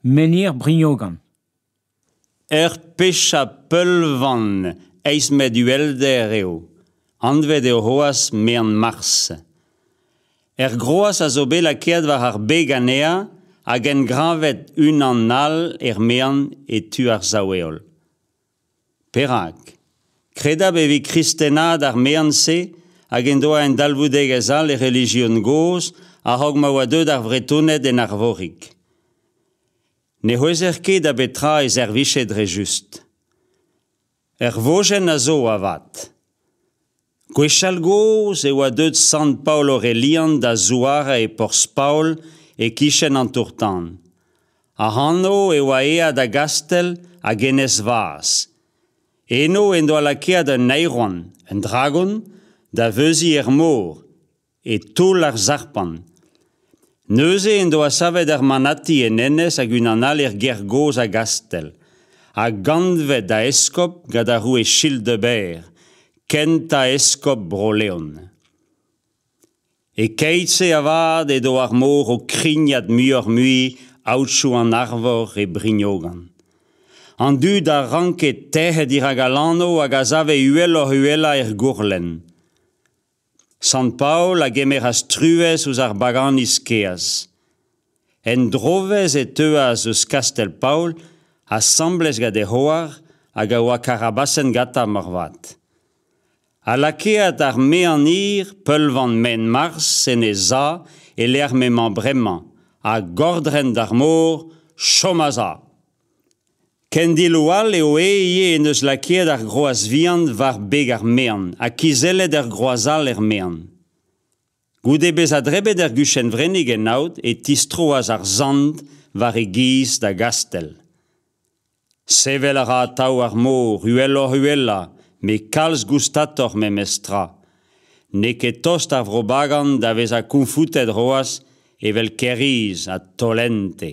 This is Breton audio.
Menhir Brignogan. Ur pechañ peulvan eizh metr uhelder eo, anvet eo c'hoazh Mean-Mars. Er groaz a zo bet lakaet war ar beg anezhañ hag engravet unan all er mean e tu ar sav-heol. Perak ? Kredabl e vez kristenaat ar mean-se hag en doa un dalvoudegezh all e relijion gozh a-raok ma oa deuet ar Vretoned en Arvorig. Ne c'houezer ket da betra e servije dre just. Ur vojenn a zo avat. Gwechall-gozh e oa deuet sant Paol Aurelian da zouarañ e porzh Paol e-kichen an tour-tan. Ac'hano e oa aet da Gastell hag Enez Vaz. Eno en doa lakaet un aeron, un dragon, da veuziñ er mor. e toull ar sarpant. Neuze en doa savet ar manati en enez hag unan all er gêr gozh a Gastell, ha gantvet da eskob gant ar roue Childebert, kentañ eskob Bro-Leon. E-keit-se avat edo ar mor o krignat muioc'h-mui aotrou an Arvor e Brignogan. An dud a ranke tec'het dirak al anv hag a save uheloc'h-uhelañ er gourlenn. Sant-Paol a gemeras truez ouzh ar baganiz keaz. En drovezh e teuas eus kastell Paol asambles gant e c'hoar hag a oa karabasenn gantañ moarvat. Ha lakaet ar meanir peulvan maen-marzh en e za e-lec'h m'emañ bremañ, ha gordren d'ar mor, chom a-za. Kendiloù all eo aes ivez en deus lakaet ar groaz vihan war beg ar mean ha kizellet ur groaz all er mean. Goude bezañ drebet er guchenn-vrennig en aod e tistroas ar sant war e giz da gastell. Sevel a ra atav ar mor uheloc'h-uhellañ met kalz goustatoc'h memes tra. N'eo ket tost ar vrobagan da vezañ kounfoutet c'hoazh evel kêr-iz ha tollente.